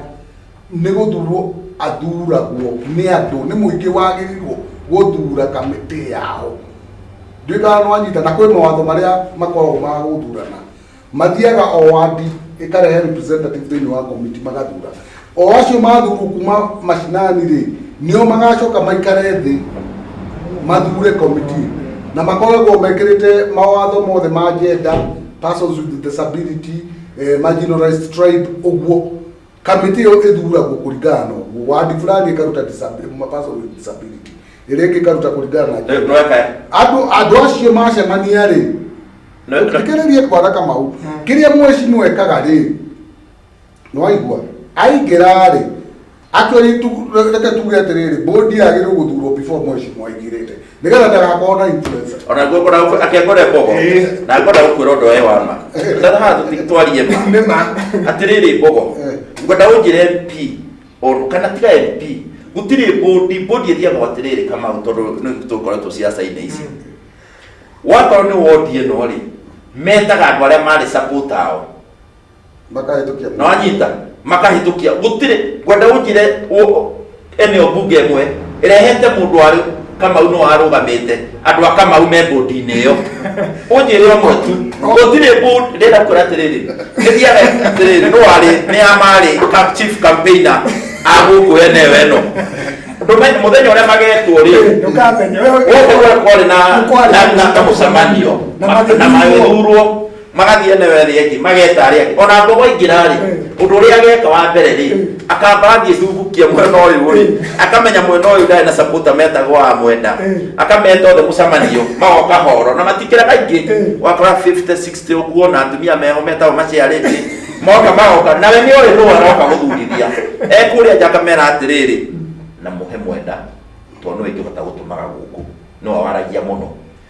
nĩ gũthurwo athuragwo nĩ andũ nĩ mũingĩ wagĩrĩirwo gũthura kamĩtĩ yao ndĩkaga nwanyita na kwĩ mawatho marĩa makoragwo ma gũthurana mathiaga o wandi ĩkarehe representative thĩinĩ wa komiti magathura o acio mathurwo kuma macinani rĩ nĩo magacoka maikare thĩ mathure komiti na makoragwo mekĩrĩte mawatho mothe ma gender persons with disability eh, marginalized tribe ũguo kamĩtĩ ĩyo ĩthuragwo kũringana na ũguo wadi fulani ĩkaruta disab- ma- person with disability ĩrĩa ĩngĩ ĩkaruta kũringana na gender. Nweka- andũ andũ acio macemania rĩ No, no. thikĩrĩrie kwara kamau kĩrĩa mweci nwekaga rĩ nwaigua aingĩra rĩ atwĩri reke tuge atĩrĩrĩ bũndi yagĩrĩirwo gũthurwo before mweci mwaingĩrĩte nigetha ndagakorwo na influencer ona guo ngona akengore bogo Eh. na ngona gukwira undu we wa ma Eh. ndana ha twarie ma nĩ ma atiriri bogo Eh. ngwenda unjire mp oru kana tiga mp gutiri bodi bodi ithiagwo atiriri kamau tondu nĩ tukoretwo ciaca-inĩ ici wakorwo nĩ wodi ĩno rĩ metaga andũ arĩa marĩ support ao makahĩtũkia na wanyita makahĩtũkia gũtirĩ ngwenda ũnjire ũ- eneo mbunge ĩmwe ĩrehete mũndũ warĩ kamau no arũgamĩte andũ a kamau me mbũndi-inĩ ĩyo ũnjĩre ũmwe tu gũtirĩ mbũndi ndĩrenda kwĩra atĩrĩrĩ ĩthiaga atĩrĩrĩ no warĩ nĩ ya marĩ cam- chief campaigner a gũkũ eneo ĩno Ndũme- mũthenya ũrĩa magetwo rĩ ndũkamenya wewe gũkũ gũkorĩ na Nĩkwarĩ na- na- na mũcemanio na na magĩthurwo. magĩthurwo magathiĩ eneo ĩrĩa ĩngĩ mageta arĩa angĩ ona mbogo aingĩra-rĩ ũndũ ũrĩa ageka wa mbere-rĩ akamba athiĩ cungukia mwena ũyũ-rĩ akamenya mwena ũyũ ndarĩ na sapota metagwo wa mwenda akameta othe mũcemanio magoka horo na matikĩra kaingĩ wakora 50 60 ũguo na atumia meho metagwo maciarĩte moka magoka nawe nĩ ũrĩ nũũ aroka gũthurithia ekũrĩa nja akamera atĩrĩrĩ na mũhe mwenda tondũ nĩwe ingĩhota gũtũmaga gũkũ nĩwe waragia mũno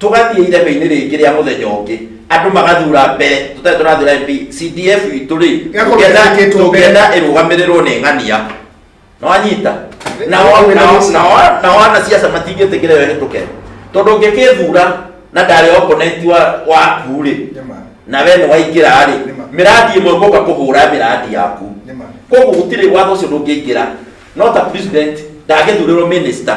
tũgathiĩ irebe-inĩ rĩngĩ rĩa mũthenya ũngĩ andũ magathura mbere tũtarĩ tũrathura mp cdf itũ rĩ Gĩakorwo tũngĩenda- gĩthurĩkĩtwo mbere. tũngĩenda ĩrũgamĩrĩrwo nĩ ng'ania nĩwanyita nao Nĩwanyita. nao- nao- nao ana ciaca matingĩtĩkĩra ĩyo ĩhĩtũke tondũ ũngĩkĩthura na ndarĩ oponenti waku rĩ Nĩma. na we nĩwaingĩra rĩ Nĩma. mĩrandi ĩmwe gũka kũhũra mĩrandi yaku Nĩma. koguo gũtirĩ watho ũcio ndũngĩingĩra no ta president ndangĩthurĩrwo minister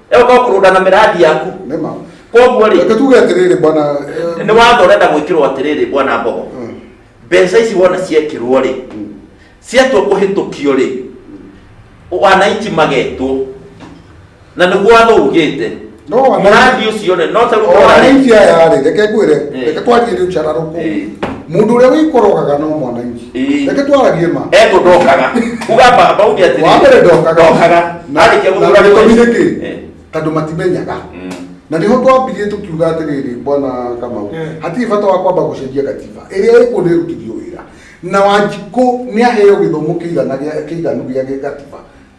ĩoka kũrũnda na mĩrandi yaku Nĩma. koguo rĩ Reke tuge atĩrĩrĩ bwana eh, nĩ watho ũrenda gwĩkĩrwo atĩrĩrĩ bwana mbogo Mm. mbeca ici wona ciekĩrwo rĩ ciatua kũhĩtũkio rĩ wananchi magetwo na nĩguo watho ugĩte No wananchi- mũrandi ũcio rĩ no ta rĩu ndora rĩ, wananchi aya rĩ reke ngwĩre Eh. reke twanjie rĩu cararũkũ Eh. mũndũ ũrĩa wĩkorogaga no mwananchi Ĩĩ. reke twaragie ma ego ndokaga uga baba uge atĩ wa mbere ndokaga ndokaga arĩkia na gũthura gĩtũmi nĩ kĩ Eh. tondũ matimenyaga Mm. na nĩho twambirie tũkiuga atĩrĩrĩ bwana kamau Eh. hatirĩ bata wa kwamba gũcenjia katiba ĩrĩa ĩkuo nĩ ĩrutithio wĩra na wanjikũ nĩ aheo gĩthomo kĩigana gĩa- kĩiganu gĩa gĩgatiba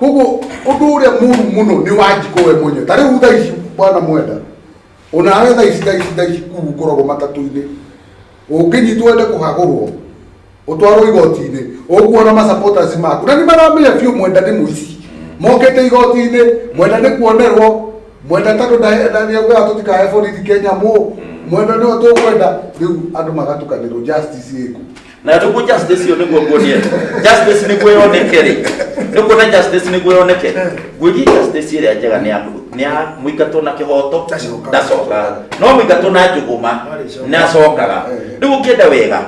koguo undu uria muru muno ni wanjiko we mwenye ta riu tha ici bwana mwenda onawe tha ici tha ici tha ici kuu ngoragwo matatu-inĩ ũngĩnyitwo wende kũhagũrwo ũtwarwo igoti-inĩ ũkuona masupporters maku na nĩ maramenya biũ mwenda nĩ mũici mokĩte igoti-inĩ mwenda nĩ kuonerwo mwenda tondũ ndaugaga tũtikahe borithi kenya mũ mwenda nĩo tũkwenda rĩu andũ magatukanĩrwo justice ĩku na tuku justice iyo niguo nguonie justice niguo yoneke ri nikuona justice niguo yoneke ngwĩrie justice ĩrĩa njega nĩ ya nĩ ya mũingatwo na kĩhoto Ndacokaga. ndacokaga no mũingatwo na njũgũma Ndarĩcokaga. nĩacokaga Eh. rĩu ũngĩenda wega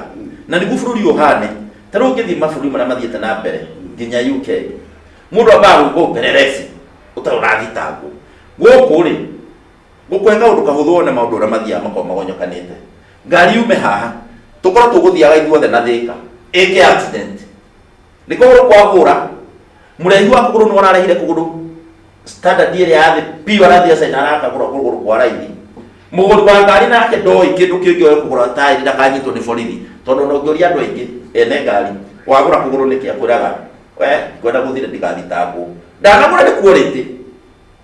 na nĩguo bũrũri ũhane ta rĩu ũngĩthiĩ mabũrũri marĩa mathiĩte na mbere nginya uk mũndũ ambaga gũkwo ũperereci ũtarĩ ũrathitangwo gũkũ rĩ gũkũhe kaũndũ kahũthũ wone maũndũ ũrĩa mathiaga makorwo magonyokanĩte ngari yume haha tũkorwo tũgũthiaga ithuothe na thĩka ĩke accident nĩ kũgũrũ kwa hũra mũraihu wa kũgũrũ nĩ wararehire kũgũrũ standard ĩrĩa ya thĩ piũ arathiĩ acaina arakagũra kũgũrũ kwa raithi mũgũri wa ngari nake ndoĩ kĩndũ kĩngĩ oe kũgũra taĩri ndakanyitwo nĩ borithi tondũ ona ũngĩũria andũ aingĩ ene ngari wagũra kũgũrũ nĩkĩ akwĩraga we ngwenda gũthire ndigathitangwo ndanagũra nĩ quality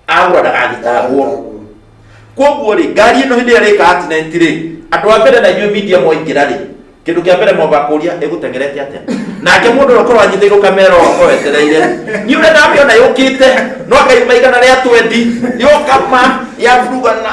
agwa ndagagĩtahwo koguo rĩ ngari ĩno hĩndĩ ĩrĩa rĩka accident rĩ andũ a mbere na inyuĩ media mwaingĩra rĩ kĩndũ kĩa mbere mwamba kũria ĩgũteng'erete atĩa nake mũndũ ũrĩa ũkorwo anyitĩirwo kamera ũko wetereire nĩ ũrĩa ndamĩona yũkĩte no akaiuma igana rĩa twendi yokama yaburugana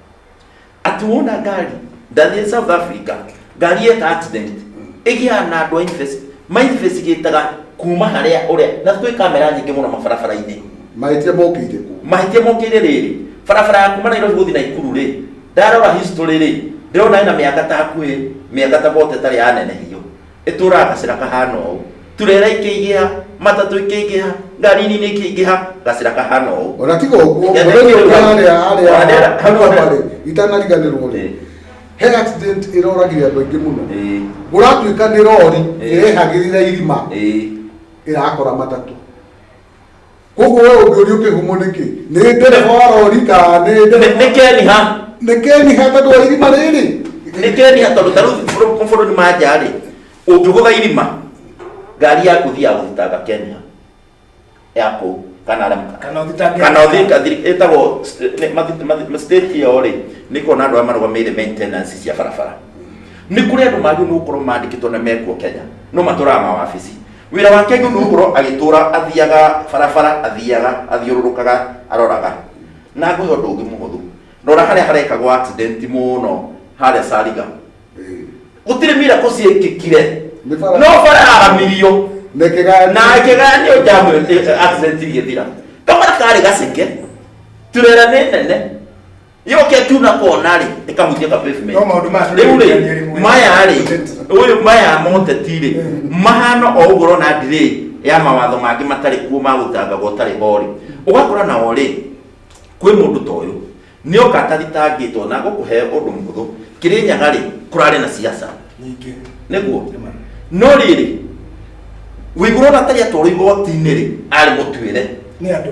ati wona ngari ndathie south africa ngari yeka accident igia na andu a invest ma investigataga kuma haria uria na kwi kamera nyingi muno mabarabara-ini mahĩtia mokĩire kũ mahĩtia mokĩire rĩrĩ barabara ya kuma nairobi gũthiĩ naikuru rĩ ndarora history rĩ ndĩrona ĩna mĩaka ta hakuhĩ mĩaka ta bote ĩtarĩ yanenehio ĩtũũraga gacĩra kahana ũũ turera ikĩingĩha matatũ ikĩingĩha ngari nini ikĩingĩha gacĩra kahana ũũ ona tiga ũguo Ndeto mũthenya icio ũrĩa hau. harĩa Ona harĩa ndera- hau harĩa ndera- marĩ itanariganĩrwo rĩ Eh. he accident ĩroragire andũ aingĩ mũno Ĩĩ, gũratuĩka nĩ rori Eh. ĩrehagĩrĩra irima ĩĩ, ĩrakora matatũ koguo we ũngĩũria ũkĩhũmwo nĩkĩ nĩ ndereba wa rori kana nĩ Nĩ- ndereba nĩ keniha nĩ keniha tondũ wa irima rĩrĩ nĩ keniha tondũ ta rĩu bũrũ- mabũrũri ma nja rĩ ũngĩgũtha irima ngari yaku thiaga gũthitanga keniha ya kũu kana arĩa- Kana ũthitange- kana ũthika ĩtagwo st- nĩ- mathi- mathi- ma- state ĩyo rĩ nĩ kuona andũ arĩa marũgamĩrĩire maintenance cia barabara nĩ kũrĩ andũ magĩrĩirwo nĩ gũkorwo mandĩkĩtwo na mekuo kenya no matũraga mawabici Wĩra wake nĩ gũkorwo agĩtũra athiaga barabara athiaga athiũrũrũkaga aroraga. Na ngũhe ũndũ ũngĩ mũhũthũ. Rora harĩa harekagwo accident mũno harĩa Cariga. Gũtirĩ miracle ciekĩkire. Nĩ bara- No bara yaramirio. Na ĩkĩgayanio. Na ĩkĩgayanio jamu ĩyo accident igĩthira. Kabara karĩ gaceke. Turera nĩ nene. yoke tu na kona rĩ ĩkahunjia ka pavement No maũndũ maya rĩu tũrĩ rĩ rĩmwe. maya rĩ ũyũ maya moteti rĩ mahana o ũguo ũrona ndirĩ ya mawatho mangĩ matarĩ kuo ma gũtangaga ũtarĩ ho rĩ ũgakora nao rĩ kwĩ mũndũ ta ũyũ nĩ oka atathitangĩtwo na gũkũhe ũndũ mũhũthũ kĩrĩnyaga rĩ kũrarĩ na ciaca nyingĩ nĩguo no rĩrĩ wĩgũrona tarĩ atwarwo igoti-inĩ rĩ arĩ mũtuĩre nĩ andũ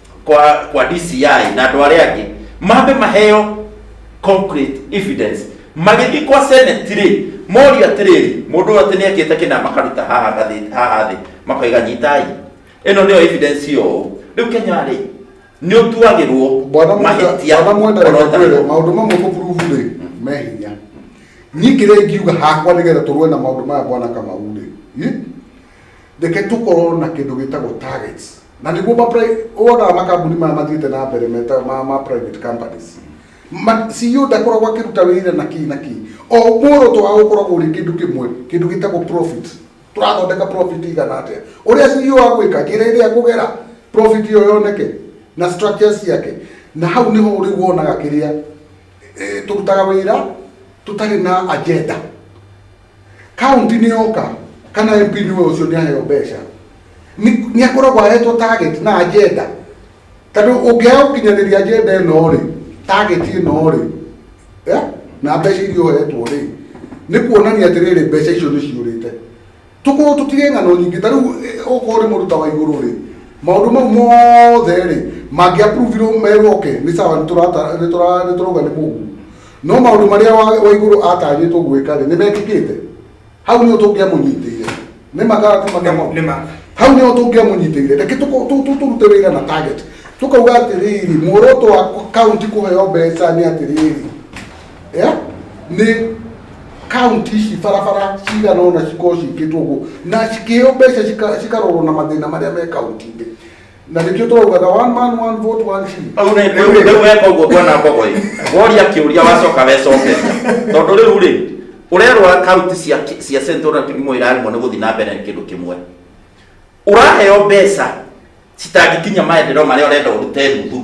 kwa kwa DCI na andå arä angä mambe maheo concrete evidence magĩthiĩ kwa senate rĩ moria atĩrĩrĩ mũndũ ũyũ atĩ nĩ ekĩte kĩna makaruta haha gathĩ- haha thĩ makoiga nyitai ĩno nĩyo evidence yo rĩu kenya rĩ nĩ ũtuagĩrwo bwana mahĩtia mwenda mwenda ona reke kwĩrwo ũtarĩ- maũndũ mamwe kũburubu rĩ me hinya niĩ kĩrĩa ingiuga hakwa nĩgetha tũrũe na maũndũ maya bwana kamau rĩ Reke tũkorwo na kĩndũ gĩtagwo targets. Na nĩguo ma wonaga makambuni maya mathiĩte na mbere meta ma, ma private companies. Ma, CEO ndakoragwo akĩruta wĩra na kĩĩ na kĩĩ. O muoroto wao ũkoragwo ũrĩ kĩndũ kĩmwe, kĩndũ gĩtagwo profit. Tũrathondeka profit ĩigana atĩa. Ũrĩa CEO agwĩka, njĩra ĩrĩa ekũgera profit ĩyo yoneke, na structures ciake. Na hau nĩho rĩu wonaga kĩrĩa, tũrutaga wĩra tũtarĩ na agenda. Kaunti nĩ yoka kana MP nĩwe ũcio nĩ aheo mbeca nĩ akoragwo ahetwo target na agenda tondũ ũngĩaga gũkinyanĩria agenda ĩno rĩ target ĩno rĩ eh, na mbeca iria ũhetwo rĩ nĩ kuonania atĩrĩrĩ mbeca icio nĩ ciũrĩte tũkorwo tũtige ng'ano nyingĩ ta rĩu eh, okorwo nĩ mũruta wa igũrũ rĩ maũndũ mau mothe rĩ mangĩapuruvirwo merwo ke nĩ sawa nĩ tũrauga nĩ mũgumu no maũndũ marĩa wa wa igũrũ atanyĩtwo gwĩka-rĩ nĩ mekĩkĩte hau nĩho tũngĩamũnyitĩire nĩ makara ti makamo Nĩ ma. hau nĩho tũngĩamũnyitĩire reke tũko- tũ- tũ- tũrute wĩra na target tũkauga atĩrĩrĩ muoroto wa kaunti kũheo mbeca nĩ atĩrĩrĩ Eh? nĩ kaunti ici barabara cigana ona cikorwo cikĩtwo ũguo na cikĩheo mbeca cika- cikarorwo na mathĩna marĩa me kaunti-inĩ na nä kä o tåraugaga one man one vote one shilling. Rĩu nĩ- Rĩu rĩ- rĩu weka ũguo ngona mbogo ĩ woria kĩũria wacoka wecokeria tondũ rĩu rĩ ũrerwa kaunti cia cia central kĩrimo irarĩmwo nĩ gũthiĩ na mbere nĩ kĩndũ kĩmwe ũraheo mbeca citangĩkinya maendereo marĩa ũrenda ũrute nuthu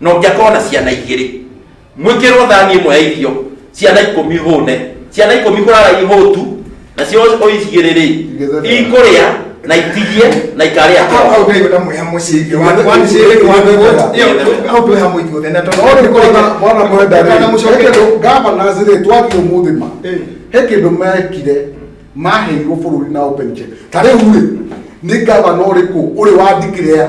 na ũngĩakorwo na ciana igĩrĩ mwĩkĩrwo thani ĩmwe ya irio ciana ikũmi hũne ciana ikũmi kũrara ihũtu nacio ũigĩrĩ rĩ ikũrĩa na itigie na ikarĩa Au ngai wenda mweha muciĩ ithe wa wa muciĩ ithe wa thĩ iyo au tweha muithu othe na to Ona mwana mwana kwenda kana rĩ mucoke kindu gavana zire twagi umuthi ma Eh. he kindu mekire maheirwo bururi na open check ta riu rĩ ni gavana uriku uri wa declare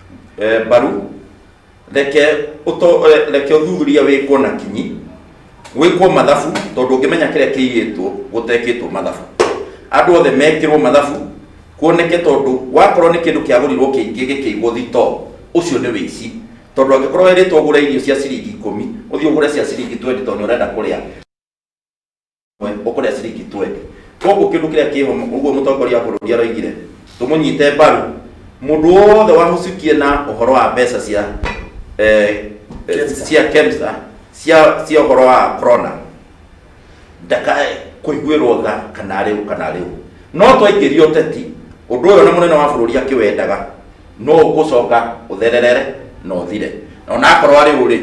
eh, mbaru reke ũto- eh, reke ũthuthuria wĩkwo na kinyi gwĩkwo mathabu tondũ ũngĩmenya kĩrĩa kĩiyĩtwo gũtekĩtwo mathabu andũ othe mekĩrwo mathabu kuoneke tondũ wakorwo nĩ kĩndũ kĩagũrirwo kĩingĩ gĩkĩigwo thito ũcio nĩ wĩici tondũ angĩkorwo erĩtwo ũgũre irio cia ciringi ikũmi ũthiĩ ũgũre cia ciringi 20 tondũ nĩ ũrenda kũrĩa ũkũrĩa ciringi 20 koguo kĩndũ kĩrĩa kĩho ũguo mũtongoria wa bũrũri aroigire tũmũnyite mbaru mũndũ wothe wahucukie na ũhoro wa mbeca cia eh, eh, cia KEMSA cia cia ũhoro wa corona ndakae kũiguĩrwo tha kana rĩu kana rĩu no twaingĩria ũteti ũndũ ũyũ na mũnene wa bũrũri akĩwendaga no ũgũcoka ũthererere na ũthire na onakorwo arĩ ũrĩ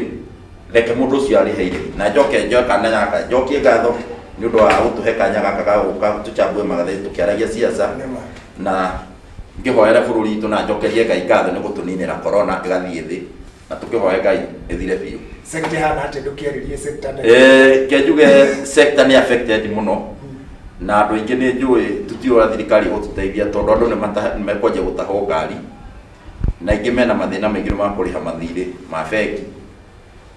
reke mũndũ ũcio arĩhe irĩhi na njoke njoe kanya gaka njokie ngatho nĩ ũndũ wa gũtũhe kanya gaka ga gũka tũchambue magathĩti tũkĩaragia ciaca Nema. na ngĩhoere bũrũri witũ na njokerie ngai ngatho nĩ gũtũninĩra korona ĩgathiĩ thĩ na tũkĩhoe ngai ĩthire biũ Sekta hana atĩ ndũkĩarĩrie sekta nene. Eh, ke njuge sector nĩ affected mũno na andũ aingĩ nĩ njũĩ tũtiũra thirikari gũtũteithia tondũ andũ nĩ mata- nĩ mekwanja gũtahwo ngari na aingĩ mena mathĩna maingĩ nĩ makũrĩha mathirĩ ma bengi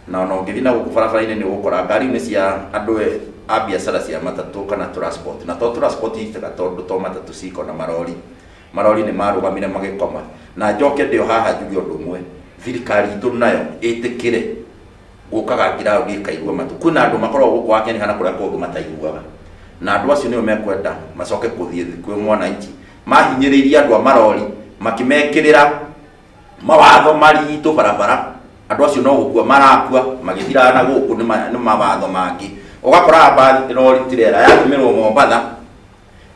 na ona ũngĩthiĩ na gũkũ barabara-inĩ nĩ ũgũkora ngari nĩ cia andũ e- a biacara cia matatũ kana transport na to transport itega tondũ to matatũ ciko na marori marori nĩ marũgamire magĩkoma, na njoke ndĩ o haha njuge ũndũ ũmwe, thirikari itũ nayo ĩtĩkĩre gũkaga ground ĩkaigua matũ. Kwĩna andũ makoragwo gũkũ wa Kenya kana kũrĩa kũngĩ mataiguaga, na andũ acio nĩo mekwenda macoke gũthiĩ thĩ kwĩ mwananchi, mahinyĩrĩirie andũ a marori makĩmekĩrĩra mawatho maritũ barabara, andũ acio no gũkua marakua magĩthiraga na gũkũ nĩ ma- nĩ mawatho mangĩ. Ũgakoraga mbathi, rori, tirera yatũmĩrwo Mombatha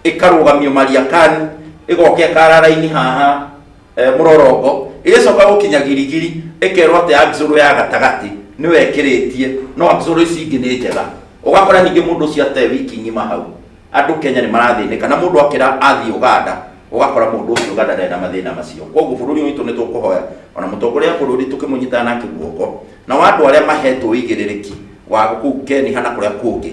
ĩkarũgamio mariakani ĩgoka ĩkara raini haha eh, mũrorongo ĩgĩcoka gũkinya girigiri ĩkerwo atĩ axũrũ ya gatagatĩ nĩyo ĩkĩrĩtie no axũrũ ici ingĩ nĩ njega ũgakora ningĩ mũndũ ũcio ate wiki ng'ima hau andũ kenya nĩ marathĩnĩka na mũndũ akĩra athiĩ ũganda ũgakora mũndũ ũcio ũganda ndarĩ na mathĩna macio koguo bũrũri witũ nĩ tũkũhoya ona mũtongoria wa bũrũri tũkĩmũnyitana nake guoko na wa andũ arĩa mahetwo ũigĩrĩrĩki wa kũu keni kana kũrĩa kũngĩ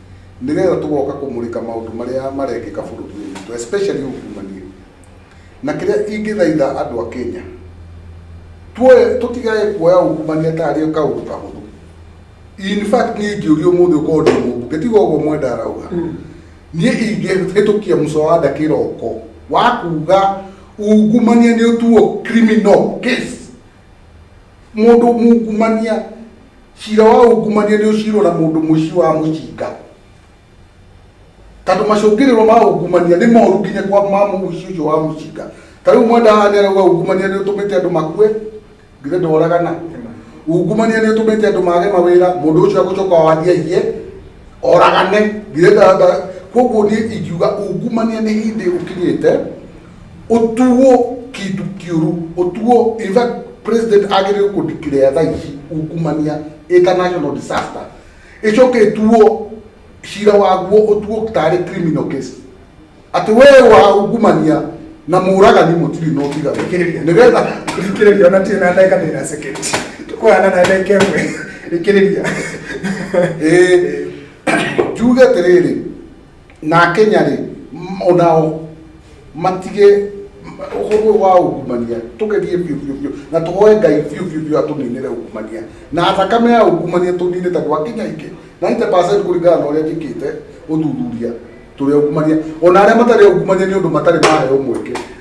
nĩrĩo tũgoka kũmũrĩka maũndũ marĩa marekĩka bũrũri-inĩ witũ especially ungumania. Na kĩrĩa ingĩthaitha andũ a Kenya, tuoye tũtigage kuoya ungumania ta arĩ kaũndũ kahũthũ. In fact niĩ ingĩũrio ũmũthĩ ũkorwo ndĩ mũmbunge, tiga ũguo mwenda arauga, niĩ ingĩhĩtũkia mũswada kĩroko wa kuga ungumania nĩ ũtuo criminal case Mũndũ mungumania, cira wa ungumania nĩ ũcirwo na mũndũ mũici wa mũcinga. Tondũ macũngĩrĩro ma ungumania nĩ moru nginya kwa ma mũici ũcio wa mũcinga. Ta rĩu mwenda haha nĩ arauga ungumania nĩ ũtũmĩte andũ makue, githĩ ndoragana? Ungumania nĩ ũtũmĩte andũ mage mawĩra, mũndũ ũcio agũcoka o athiĩ aiye, oragane, githĩ nda- nda- Koguo niĩ ingiuga ungumania nĩ hĩndĩ ũkinyĩte, otuwo kindu kiuru otuwo in fact president agirire ku declare tha ici ukumania international disaster icoke tuwo cira waguo otuwo tari criminal case ati we wa ungumania na muragani mutiri no tiga Thikĩrĩria. nigetha Thikĩrĩria ona tirĩ na ndagĩka ndĩna second. Tũkũhana na ndagĩka ĩmwe. Thikĩrĩria. eh tuge atiriri na akenya rĩ m- onao matige ũhũthũ wa ungumania tũgerie biũ biũ biũ na tũhoe ngai biũ biũ biũ atũninĩre ungumania na thakame ya ungumania tũnine tondũ akenya aingĩ 90 kũringana na ũrĩa njĩkĩte ũthuthuria tũrĩ ungumania ona arĩa matarĩ ungumania nĩ ũndũ matarĩ maheo mweke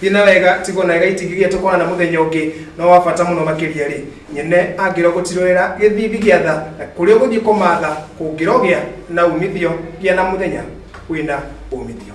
Thiĩ na wega, tigwo na gaitigithia tũkonana mũthenya ũngĩ, no wa bata mũno makĩria rĩ, nyene angĩro gũtirorera gĩthithi gĩa tha na kũrĩa ũgũthiĩ kũmatha kũngĩrogĩa na umithio gĩa na mũthenya wĩna umithio.